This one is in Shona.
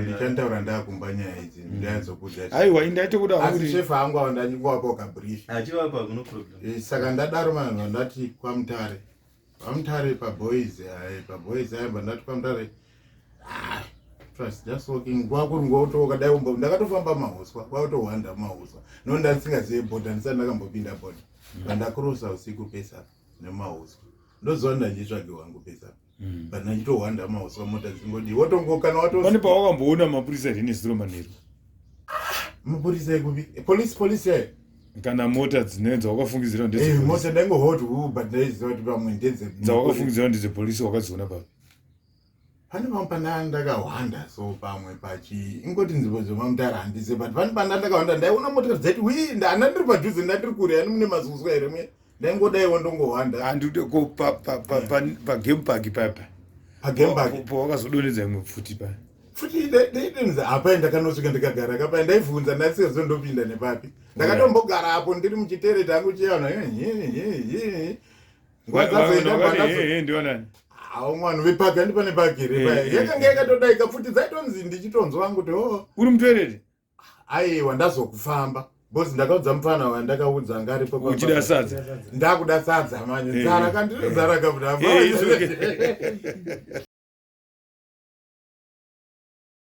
ndichanitaura ndakumba nyaya idzi mm. ndaizokuaiwa indaitokudaasishefa hangu ava ndanyingowapa ukabrifsaka eh, ndadaro manhu vandati kwamutare kwamutare paboys eh, paboys aimba ndati kwamutare ah, ndakatofamba mahuswa kwakutohwanda mahuswa no ndasingazive boda ndisati ndakambopinda boda mm. vandakurosa usiku pesa nemahuswa ndoziva ndanditsvage wangu pesa mm. vanhu vachitohwanda mauswa mota dzingodi wotongokana watopane pawakamboona mapurisa here nezuro manheru mapurisa ekupi polisi polisi yayo kana mota dzine dzawakafungidzira ndedzemota eh, ndaingohot uber ndaiziva kuti pamwe ndedze dzawakafungidzira ndedzepolisi wakadziona papi pane pamwe pandanga ndakahwanda so pamwe pachi ingoti nzvimbo dzemamutara handize but pane pandanga ndakahwanda ndaiona mota dzaiti wi ndana ndiri padhuze ndandiri kure ani mune mazuzwa here mwe ndaingodaiwo ndongohwanda handide ko pagame park papa pawakazodonedza imwe pfuti pa futi ndaidonedza hapai ndakanosvika ndikagara kapai ndaivhunza ndasizo ndopinda nepapi ndakatombogara apo ndiri muchitere tangu chiana hawo mwana vepaki andipane paki here yakanga yakatodaika futi dzaitonzi ndichitonzwa vangu kuti o oh. uri mutoereri aiwa ndazokufamba bcause ndakaudza mupfana wandakaudza ngaripokuchida sadza ndakuda sadza manje eh, zara kandiri eh. zara kabuda eh,